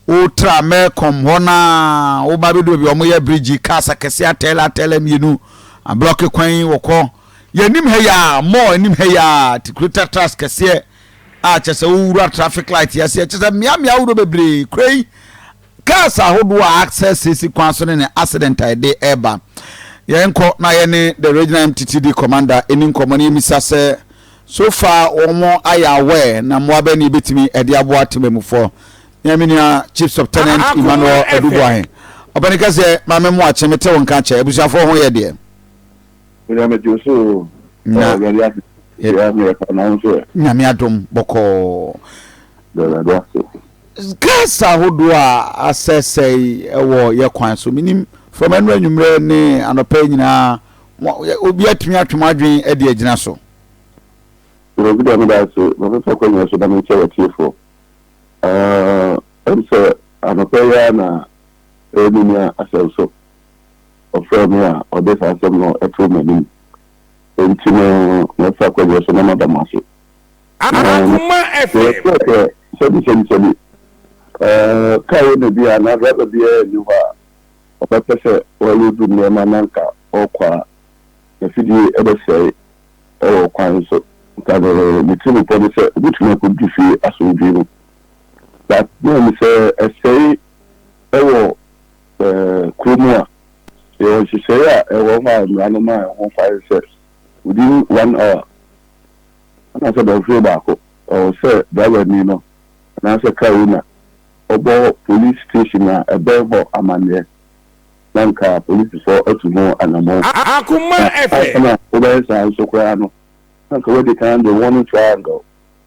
wotra mɛkɔm hɔ no a woba bɛdu baabi a wɔyɛ bridge cars akɛseɛ atɛlɛ atɛlɛ mmienu ablɔke kwan yi wɔkɔ yɛnim ha yi a mɔɔ anim ha yi a tikurita tras kɛseɛ a kyɛ sɛ wowura traffic light yɛseɛ kyɛ sɛ mmeammea ahodoɔ bebree kura yi cars ahodoɔ a access sisi kwan so ne ne accident a ɛde ɛba yɛnkɔ na yɛne the regional mttd commander ɛni nkɔmmɔ ne yɛmisa sɛ So far wɔn ayɛ aware na mmoa bɛn na yɛbɛtumi ɛde aboa temammufoɔ? Mea me nua Chief Subtenent Emmanuel Aduboahe. Ɔpɛni ka sɛ, Maame Mmoakye, mete wo nka kyɛ. Abusuafoɔ ho yɛ deɛ? Me deɛ mete wo so o. Na. Awurade ase. Yɛ me yɛ pa na wo nso ɛ. Nyame adom bɔkɔɔ. Da Awurade ase. Cars ahodoɔ a asɛesɛe wɔ yɛ kwan so. Menim from ɛno anwummerɛ ne anɔpa yi nyinaa Obiara tumi atwe m'adwene de agyina so. Awurade da me da ase, mabɛfa kwanya so na merekyɛ w'atiefoɔ. Ɛm sɛ anɔpa yi ara na ɛyɛ me nua Asɛnso, ɔfrɛɛ me a ɔde saa asɛm no too m'anim. Enti no mɛfa kwanya so na mada mo ase. Akuma FM. Sɛ sɛbi sɛbi sɛbi, car owner bi anaa driver biara nni hɔ a. ɔbɛpɛ sɛ ɔreloadu nneɛma na anka ɔrekɔ a, n'afidie bɛsɛe wɔ ɔkwan so. Anka ne ne tirimupɔ ne sɛ ɔbɛtumi akɔdu fie asomdwoeɛ mu. But mehu sɛ ɛsɛe wɔ kuro mu a, yɛwɔ nhyehyɛeɛ a ɛwɔ hɔ a mmara no ma ɛho kwan sɛ within one hour anaasɛ dɔnhwere baako, ɛwɔ sɛ driver ni no anaasɛ car owner, ɔbɔɔ polis station a ɛbɛn hɔ amanneɛ, na anka polisifo atu ho anammɔn. Akoma ɛfɛ. Ansa na wobɛyɛ saa nso koraa no, na anka woadi kan de warning triangle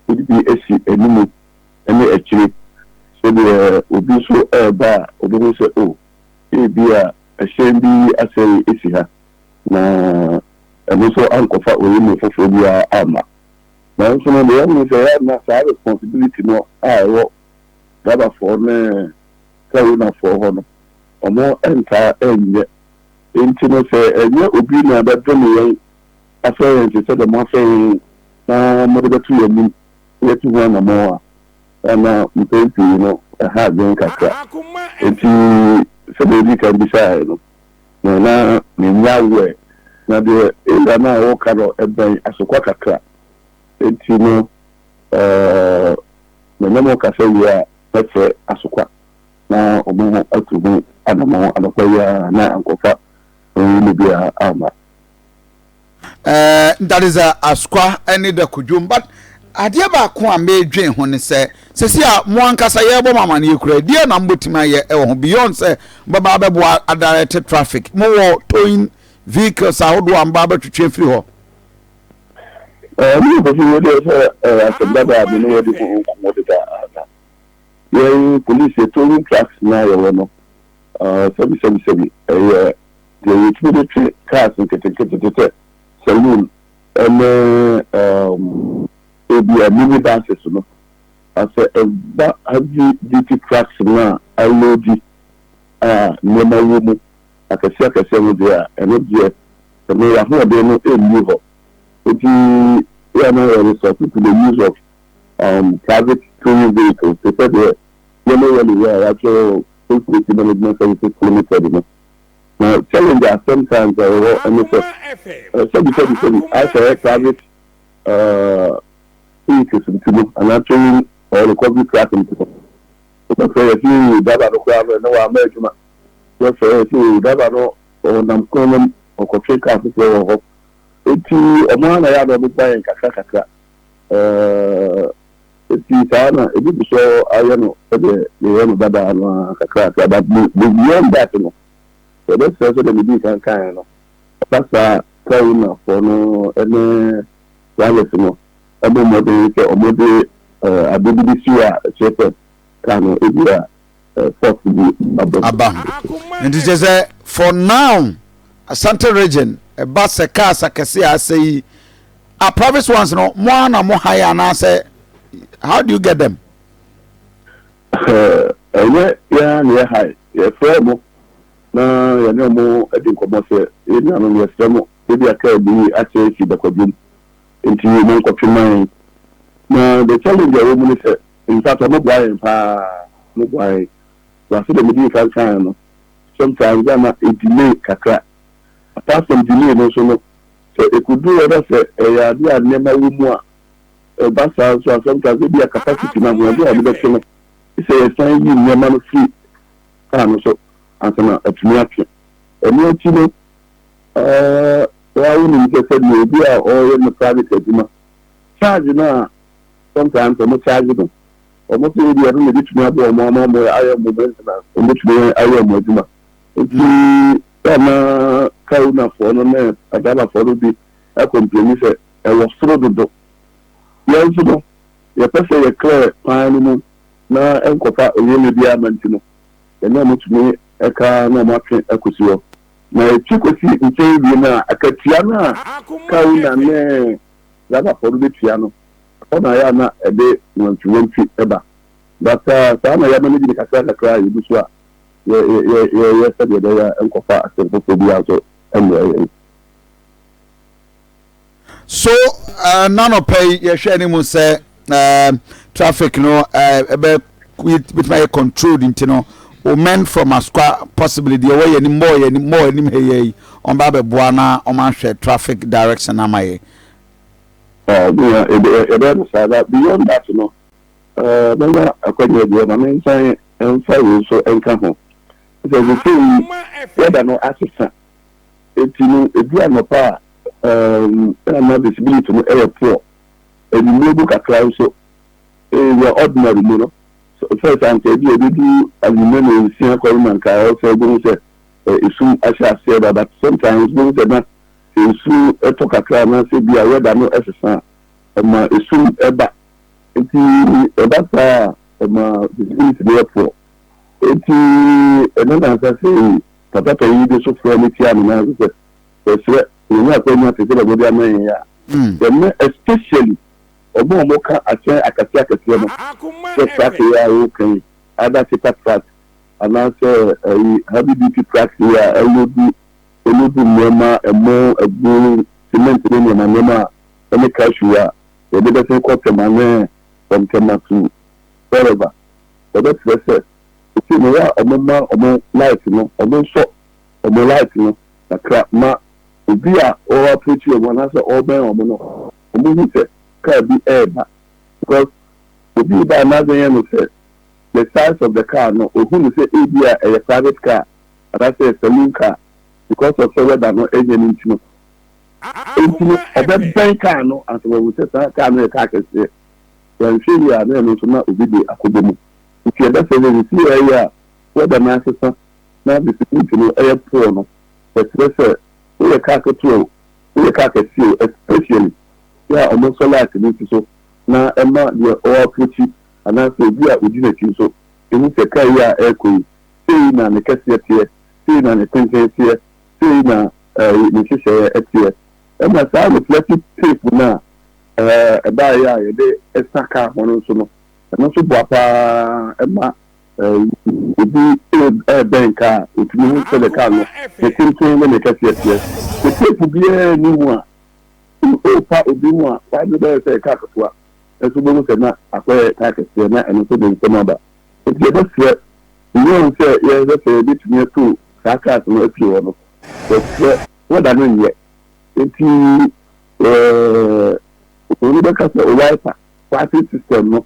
wode bi asi anim ne akyire, sɛdeɛ obi nso reba a, ɔbɛhu sɛ, oh, ebia ɛhyɛn bi asɛe asi ha, na ɛno nso ankɔfa oyinom foforɔ biara amma. Nanso no, deɛ yɛahu ne sɛ, ɛyɛ a na saa responsibility no a ɛwɔ Gabafɔɔ ne Saronafɔɔ hɔ no, wɔn ntaa ɛnyɛ. Enti no sɛ ɛnyɛ obi na bɛdome yɛn, afrɛ yɛn te sɛdeɛ moafrɛ yɛn yi, na mode bɛto yɛn anim sɛ yɛtu ho anammɔn a, na mpɛn pii no ɛha adwene kakra. Enti sɛdeɛ ɔdii kan bisaeɛ no, na na mennyɛ aware, na deɛ Ella no a ɔreka no ɛbɛn asokwa kakra. Enti no ɔɔ. Mene mo kasa wie a mɛsɛ asokwa na wɔn ho atu ho anamɔn anɔpa yi ara na ankɔfa honhom mu biara amma. Uh, that is a asokwa ne da kodwom but adeɛ baako a mɛdwen ho ne sɛ sɛsi a mo ankasa yɛrebɔ mo amaneɛ kura deɛ na mobɛtumi ayɛ ɛwɔ ho beyond sɛ mobɛba abɛboa adirect traffic mowɔ towing vehicles ahodoɔ a mobɛba abɛtwetwe afiri hɔ Ɛno na kɔsi nnɛ deɛ sɛ asɛm dada a me ne wɔdi ho nkɔmmɔ deda na yɛn polisi, yɛ towing trucks no a yɛwɔ no, sɛbisɛbisɛbi ɛyɛ deɛ yɛtumi de twe cars nketenkete te sɛ saloon ne ebia mini buses no. Na sɛ ɛba heavy duty trucks no a aloadi a nneɛma wɔ mu akɛseakɛseɛ no deɛ a, ɛno deɛ, ɛno yɛn ahoɔden no nni hɔ. Nti yɛ a na yɛ resort to the use of um, private towing vehicles, te sɛ deɛ Yellow Whale wɔ a yɛatwerɛ State Safety Management Services Limited no. Na challenge a sometimes a yɛwɔ ɛne sɛ, sɛbisɛbisɛbi, asɛ private uh, vehicles nti no, anaa towing or recovery truck nti no, wobɛfrɛ yɛ sɛ yɛyi driver no koraa no, ɛne wɔ ama adwuma. Wɔsɔre a ɛsɛ o, driver no ɔnam kwan no mu, ɔkɔtwe car foforɔ wɔ hɔ. Enti wɔn ara na ɛyɛ a na wɔbɛbua yɛn kakra kakra. Ɛɛɛ enti saa ara na ebi gu so ayɛ no sɛdeɛ yɛyɛ no dada no ara kakra kakra. But be beyond that no, yɛbɛsrɛ sɛdeɛ medii kan kaeɛ no, ɛba saa a, car ownerfoɔ no ne drivers no mmɔ mmɔden sɛ wɔde ɛɛ adeɛ bi bɛsi hɔ a ɛkyerɛ sɛ car no ebia force bi aba mu. Aba mu. Nti kyerɛ sɛ for now Asante region ɛba sɛ cars akɛse a asɛ yi a private ones no mo ara na mo hire anaasɛ how do you get them? Ɛnyɛ yɛn ara na yɛ hire yɛfrɛ wɔn na yɛne wɔn di nkɔmmɔ sɛ yɛn nuanom yɛsrɛ mo ebi a car bi asɛ asi bakwadwom nti monkɔtwe ma yɛn na the challenge a ɛwɔ mu ne sɛ Mpatsɔ moboa hɛn paa moboa hɛn na sɛdeɛ medii kan kaeɛ no sometimes na na e delay kakra apart from delay no nso no sɛ ɛkɔduru hɔ na sɛ ɛyɛ adeɛ a nneɛma wɔ mu a ɛba saa nso a sometimes ebia capacity no ahoɔden a wɔde bɛtwe no gye sɛ yɛsan yi nneɛma no firi car no so ansa na atumi atwe ɛno akyi no ɛɛ woa wonim sɛ sɛdeɛ obi a ɔreyɛ ne private adwuma charge no a Sometimes wɔn charge no, wɔn sɛ ebi ɛno na ebetumi aboa wɔn ama wɔn ayɛ wɔn maintenance, wɔn betumi ayɛ wɔn adwuma. Nti sɛ na car ownerfoɔ no ne adriverfoɔ no bi ɛcomplaini sɛ ɛwɔ soro dodo. Yɛn nso no, yɛpɛ sɛ yɛ clear kwan no mu na ɛnkɔfa owuoyɛ biara mma nti no, yɛne wɔn tumi ɛka na wɔn atwe akosi hɔ. Na ɛtwe kosi nkyɛn wie no a, akatua no a car owner ne Javafoɔ no bɛtua no. Ɛhɔ na ayɛ a na ɛde nnwantewantwe ba. But saa na yɛma no di ne kakra kakra a yɛgu so a yɛyɛ sɛdeɛ ɛbɛyɛ a ɛnkɔfa asɛm foforɔ biara nso mmrɛ yɛn. So n'anɔpa yi yɛhwɛ anim sɛ um, traffic no ɛbɛ uh, bɛtumi ayɛ controlled nti no o men from asukwa possibly deɛ wɔyɛ ni mɔɔ yɛ ni mɔɔ anim ha yɛ yi wɔn ba abɛboa na wɔn ahwɛ traffic direction ama yɛ. ɛbɛyɛ no saa na beyond that no mɛnya akwanya bi ɔma me nsan mfa wei nso nka ho sɛ sesei yi wɛda no asesa eti no edu anɔpa a ɛna na visibility no ɛyɛ poor anwummere mu kakra nso, in the ordinary mu no, sɛ ɔfɛre saa nka ebia ɛbɛduru anwummere na nsia kɔ no na nka ɛwɔ sɛ wobɛhu sɛ esum ahyɛ aseɛ da, but sometimes wobɛhu sɛ na sɛ nsu tɔ kakra anaasɛ bi a weather no sesa a, ɛma esum ba. Enti ɛba saa a, ɛma visibility no yɛ poor. Enti ɛno na ansa sei Papa Panyin de so frɛ no tia no nan ase sɛ, Yɛsrɛ sɛ yɛnya akwanya te sɛ bɛbɔ bi ama yɛn a, yɛmmrɛ, especially wɔn a wɔka akyerɛ akɛseɛ akɛseɛ no, sɛ track yi a woka yi, either Seta track anaasɛ ɛyi Heavy Duty track yi a ɛloadu ɛloadu nneɛma, ɛmo, agu, cement ne nneɛma nneɛma a ɛne cashew a yɛde bɛsen kɔ Tema ne from Tema to wherever, yɛbɛsrɛ sɛ, ɛsei no yɛ a wɔmma wɔn light no, wɔnsɔ wɔn light no. kakra ma obi a ɔɔ approach wɔn anaasɛ ɔɔbɛn wɔn no wɔn hu sɛ car bi ɛɛba because obi reba a n'adwene no sɛ the size of the car no ohu no sɛ ebi a ɛyɛ private car anaasɛ ɛyɛ saloon car because of sɛ weather no ɛnyɛ no nti no nti no ɔbɛbɛn car no ansa wɔn hu sɛ saa car no yɛ car kɛseɛ yɛnhwɛ yie a na ɛno nso na obi de akɔbɔ mu nti ɛbɛsɛ sɛ sisi ɛyɛ a weather no asesa na distribute no yɛ poor no, yɛsrɛ sɛ woyɛ car ketewa o, woyɛ car kɛseɛ o, especially yɛ a ɔmo nsɔ light no nsi so na ɛma deɛ ɔ approachi anaasɛ obi a odi n'akyi nso ehu sɛ car yi a ɛɛkɔ yi sei na ne kɛseɛ teɛ, sei na ne tenten teɛ, sei na ɛɛy ne nhyehyɛeɛ teɛ. Ɛna saa reflective tape no a ɛɛ ɛbaeɛ a yɛde sa car ho no nso no, ɛno nso boa paa ma Obi rebɛn kar a, otumi hu sɛnea kar no ne tenten ne ne kɛseɛ teɛ. Sɛ teepu biara nni ho a, sɛ worepa obi ho a, kar no bɛyɛ sɛ ɛyɛ kar ketewa, nanso wobɛhu sɛ na akɔyɛ kar kɛseɛ, na ɛno nso de nsɛm aba. Enti yɛbɛsrɛ wɔn sɛ yɛhwɛ sɛ yɛbɛtumi atow saa cars no afiri hɔ no, wɔkyerɛ wɔda no nyɛ. Enti wɔbɛka sɛ wiper parking system no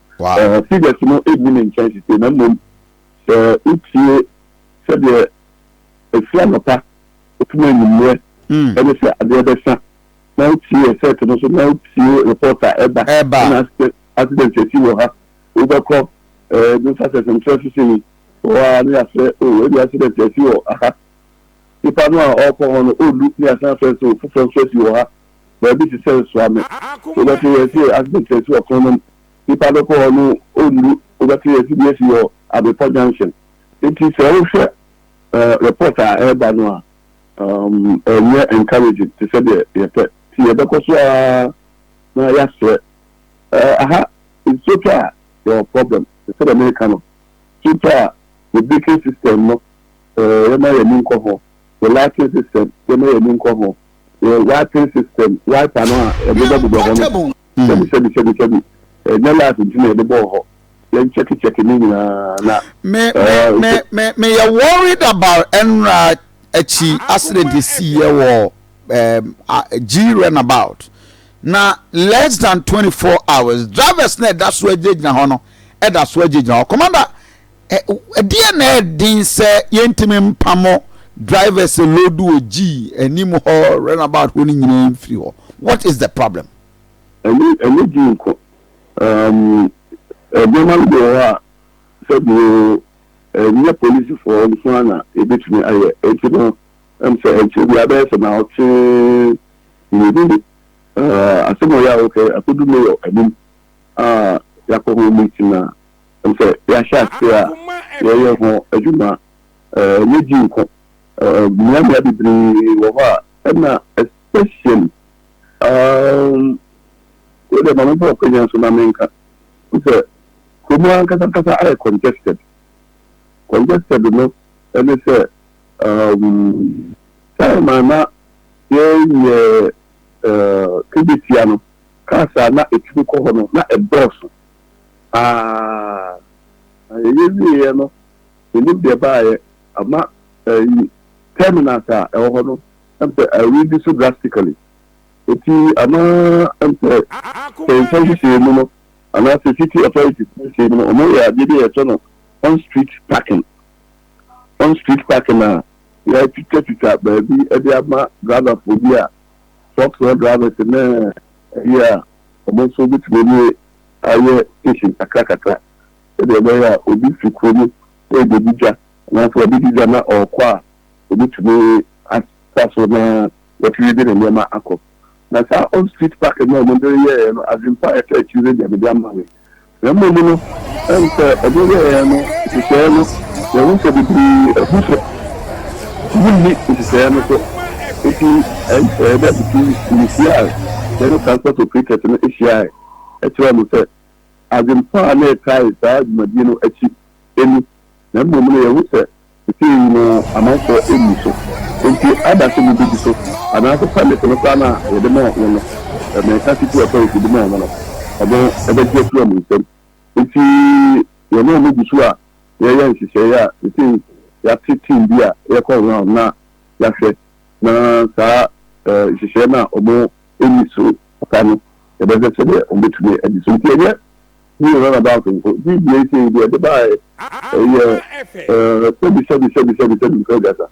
Wow! Figures no nni ne nkyɛn sesei, na mmom sɛ wotie sɛdeɛ ɛfiri anɔpa kɔpem anwummerɛ ɛne sɛ adeɛ bɛsa, na wotie ɛsɛɛte no nso, na wotie report a ɛba ɛna accident asi wɔ ha, wobɛkɔ New Success nkyerɛ so sei, wɔ a ne yɛafrɛ o ɛbi accident asi wɔ ha, nipa no a ɔrekɔ hɔ no ɔnnu ne yɛasan afrɛ sɛ o foforɔ nso asi wɔ ha. baabi te sɛ Nsoame. Wobɛte yɛ se accident asi wɔ kwan no mu. Nipa no kɔ hɔ no ɔnnu. Wobɛte yɛ se bi asi wɔ Abepɔ junction. Nti sɛ wohwɛ report a ɛreba no a, ɛnyɛ encouraging te sɛ deɛ yɛpɛ. Nti yɛbɛkɔ so ara na yɛasrɛ. Aha nsuo tɔ a yɛwɔ problem. Sɛdeɛ mereka no, nsuo tɔ a yɛ baking system no yɛmma yɛn ani nkɔ ho. Yɛ lighting system yɛmma yɛn ani nkɔ ho. wɔ wiping system, wiper no a ɛbobɔbobɔ hɔ no, sɛbi sɛbi sɛbi sɛbi, ɛnyɛ life nti na yɛbobɔɔ hɔ, yɛn kyɛke kyɛke ne nyinaa na. Me me me me me yɛ worried about ɛnra akyi accident esi yɛ wɔ um, G runabout na less than twenty four hours drivers na ɛda so agyinagyina hɔ no ɛda so agyinagyina hɔ commander. Ɛdeɛn na ɛyɛ den sɛ yɛntumi mpamo drivers load wɔ G anim hɔ runabout hɔ no nyinaa mfiri hɔ? What is the problem? Ɛnyɛ ɛnyɛ G nko. Um, nneɛma no bi wɔ hɔ a sɛdeɛ ɛnyɛ polisifoɔ nko ara na ɛbɛtumi ayɛ. Enti no, ɛm sɛ ɛnkyɛ biara bɛyɛ sɛ na ɔte mmienu ni. Uh, asɛm ɔyɛ a wɔkɛ akɔdu mayor anim a yɛakɔ ho meeting a sɛ yɛahyɛ ase a yɛyɛ ho adwuma. Ɛnyɛ gye nko, mmeammea bebree wɔ hɔ a ɛna especially um wei deɛ ma memfa ɔkwanya nso na menka sɛ kurom ankasa ankasa ayɛ congested. Congested no ɛne sɛ um time a na yɛyɛ uh, kebetia no cars a na ɛtumi kɔ hɔ no na ɛdɔɔso. paa. Na yɛwieeɛ no, mennim deɛ baeɛ, ama ɛyi terminals a ɛwɔ hɔ no, ɛm sɛ a reduce so drastically. Enti ama ɛm sɛ sɛ nsa nhyehyɛɛ mu no, anaasɛ city authorities nhyehyɛɛ mu no, wɔyɛ adeɛ bi a yɛfrɛ no on street parking. On street parking a yɛatwitwatwitwa baabi de ama driverfoɔ bi a trucks no drivers ne ɛyi a wɔn nso bɛtumi ne ayɛ station kakrakakra sɛdeɛ ɛbɛyɛ a obi fi kuro mu rebɛdi dwa anaasɛ wabɛdi dwa na ɔrekɔ a, ɔbɛtumi asa so na watumi de ne nneɛma akɔ. Na saa off street parking no a wɔde reyɛeɛ no, Adwempa a ɛtɔ akyire no deɛ mede ama me. Na mmom no, ɛne sɛ wɔde yɛeɛ no, nhyehyɛeɛ no, yɛhu sɛ bebree abu so, wɔnni nhyehyɛeɛ no so. Nti ɛyɛ dɛ nti mehyia yɛne transport operators no hyiaeɛ. kyerɛɛ no sɛ Agyenkwa a na ɛkae saa dwumadie no akyi ni, na mmom no yɛhu sɛ seesei yi no amanfoɔ nni so, enti ada sɛ mobɛdi so, anaase pɛmete no koraa no a yɛde maa mo no, meka titi authority de maa mo no, ɔno bɛgye afiri wɔn nsam. Enti yɛne wɔn gu so a yɛreyɛ nhyehyɛeɛ a seesei yɛate team bi a yɛkɔ around na yɛahwɛ na saa nhyehyɛeɛ no a wɔn. enni so papa no, yɛbɛhwɛ sɛdeɛ wɔbɛtumi adi so. Nti ɛnyɛ new runabout nko. Video yi sei deɛ ɛde baeɛ ɛyɛ sɛbi sɛbi sɛbi sɛbi sɛbi nko aduasa.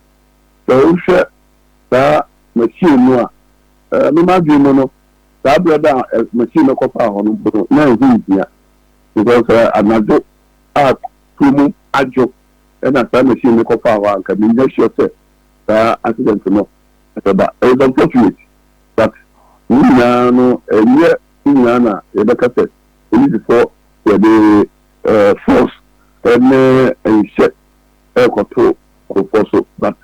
Sɛ wohwɛ saa machine no a, me m'adwene mu no, saa berɛ da a machine no kɔfaa hɔ no mpo no, na ɛho nhia. Because anadwo a kurom adwo ɛna saa machine no kɔfaa hɔ a, anka mennya sure sɛ saa accident no ɛbɛba. It was unfortunate. But ne nyinaa no ɛnyɛ ne nyinaa na yɛbɛka sɛ polisifoɔ yɛde force ne nhyɛ ɛrekɔto nkorɔfoɔ so but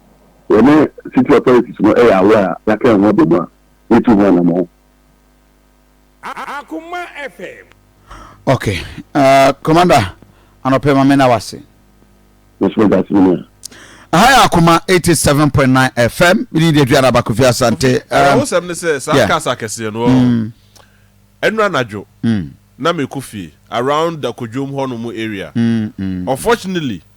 yɛne city authorities no yɛ aware a yɛaka yɛn ho abɔ mu a yɛtu ho anamɔn. Akoma FM. Ok Commander anɔpɛ ma mena wase. Mɛsɛ meda ase mene a. Aha yɛ Akoma 87.9 FM mene de aduana ba Kofi Asante. Ɛho sɛm ne sɛ saa cars akɛseɛ no ɔɔ ɛnura nadwo na mekɔ fie around Dakodwom hɔ nom area unfortunately.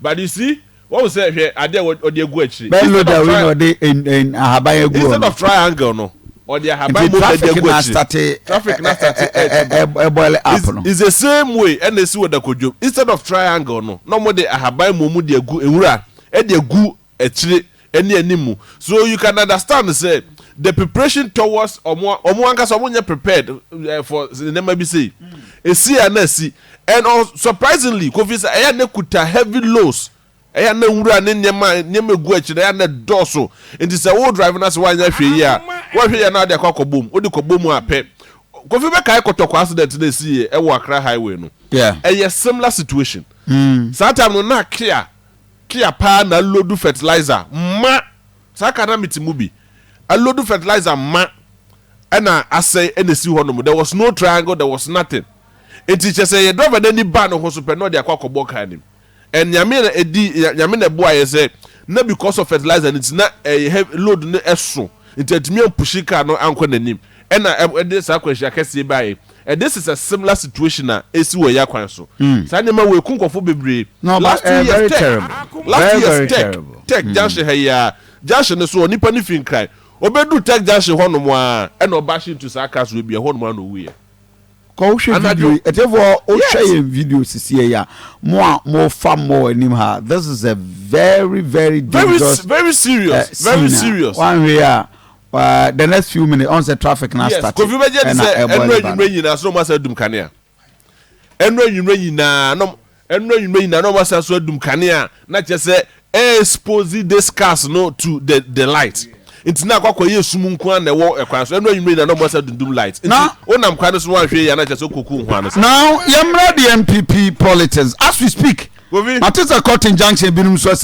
But you see, wɔn sɛ hwɛ adeɛ a wɔde agu akyire. Bɛn load a wei na ɔde ahaban agu ɔno. Instead of triangle no, ɔde ahaban mu bɛde agu akyire. Traffic na starte ɛbɔle app no. It's the same way ɛna esi wɔ Dakodwom. Instead of triangle no, na wɔn de ahaban mu wɔn de agu nwura ɛde agu akyire ne animu so you can understand sɛ the preparation towards ɔmo ɔmo ankasa ɔmo nyɛ prepared eh, for nneɛma bi sei esi a na esi and uh, surprisingly kofi sɛ ɛyɛ na kuta heavy loss ɛyɛ na nwura ne nneɛma nneɛma egu akyi na ɛyɛ na dɔɔso nti sɛ wo drive na sɛ wanyɛ hwee yie a wɔhwɛ yɛ na ɔde akɔ akɔbɔ mu ɔde kɔbɔ mu apɛ kofi bɛkae kɔtɔkɔ accident na esi yɛ ɛwɔ akra highway no yeah. ɛyɛ similar situation mm. saa time no na akea Kea paa na alodu fertilizer ma saa car na mete mu bi alodu fertilizer ma ɛna asɛe ɛna esi hɔ nom there was no triangle there was nothing nti kyɛ sɛ yɛ driver no ani baa ne ho so pɛ na ɔde akɔ akɔbɔ car nim and nyame na edi nyame na ɛboa yɛ sɛ na because of fertilizer no nti na ɛyɛ load no ɛso nti atumi ampushi car no ankɔ n'anim ɛna ɛde saa akwanhyia kɛseɛ baeɛ. And this is a similar situation a esi wɔ yɛ kwan so. Saa nneɛma wei ku nkurɔfoɔ bebree. Last two years tech last two years tech tech junction ha yi ara junction no so hɔ nipa no fi nkran ɔbɛduru tech junction hɔ nom ara ɛna ɔba hye ntu saa cars wei bi ɛhɔ nom ara na ɔwuiɛ. Kɔ wo hwɛ video yi ɛtiɛfoɔ wo hwɛ yɛn video sisiɛ yi a mo a mo fa mo wɔ anim ha this is a very very dangerous very very serious very serious. Wanhwɛ yi a. Uh, the next few minutes, on the traffic now yes, start. Kofi Beje is a enro enyimre nyina so mo asa dum kanea. Enro enyimre nyina no enro enyimre nyina no mo asa so dum kanea na kyerɛ sɛ expose this cars no to the the light. Nti na akɔkɔ yɛ sum nko an na ɛwɔ ɛkwan so. Enro enyimre nyina no mo asa dundum light. Nti wonam kwan no so wanhwɛ yɛ na kyerɛ sɛ koku nho ano sɛ. Now yɛmmra the MPP politics as we speak. Kofi. Matisa Cotton Junction binom so